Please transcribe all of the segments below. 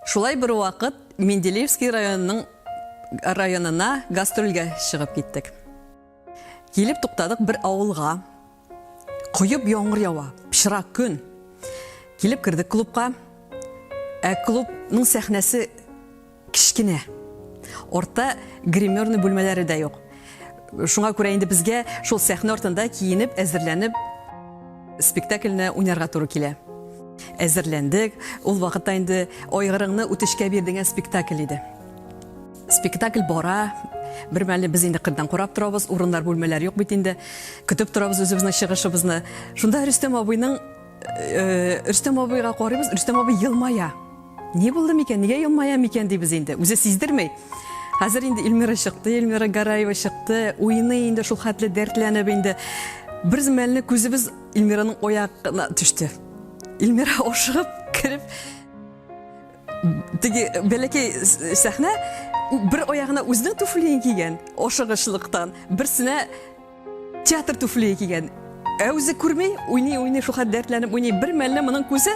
Шулай бервакыт Менделеевский районының районына гастрольгә чыгып киттек. Килеп туктадык бер авылга. Коеп яңгыр ява, пычрак көн. Килеп кердек клубка. Ә клубның сәхнәсе Кечкенә. Артта гримерный бүлмәләре дә юк. Шуңа күрә инде безгә шул сәхнә артында киенеп, әзерләнеп спектакльне уйнарга туры килә. Әзерләндек. Ул вакытта инде Айгырыңны үтешкә бир дигән спектакль иде. Спектакль бара. Бермәлне без инде кырдан карап торабыз, урыннар, бүлмәләр юк бит инде. Көтеп торабыз үзебезнең чыгышыбызны. Шунда Рөстәм абыйның Э, Рөстәм абыйга карыйбыз, Рөстәм абый елмая. Ни булды микән, нигә елмая микән дибез инде. Үзе сиздермей. Хәзер инде Эльмира чыкты, Эльмира Гараева чыкты, уйный инде шул хәтле дәртләнеп инде. Бер мәлне күзебез Эльмираның аягына төште. Эльмира ашыгып кереп теге бәләкәй сәхнә бер аягына үзенең туфлиен кигән, ашыгычлыктан, берсенә Театр туфлие кигән. Ә үзе күрми, уйный, уйный, шуха дәртләнеп уйный. Бер мәлне моның күзе,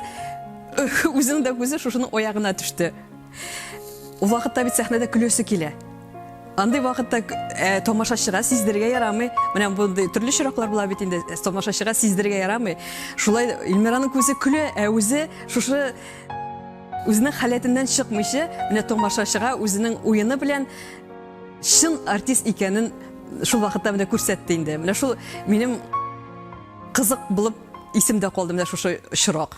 үзенең дә күзе шушының аягына төште. Ул вакытта бит сәхнәдә көлөсе килә. Андый вакытта э, тамашачыга сиздерергә ярамый. Менә мондый төрле чираклар була бит инде. Э, тамашачыга сиздерергә ярамый. Шулай Илмираның күзе көлә, ә үзе шушы үзенең халәтеннән чыкмыйча, менә тамашачыга үзенең уены белән Чын артист икәнен шул вакытта менә күрсәтте инде. Менә шул минем кызык булып исемдә калды менә шушы чирак.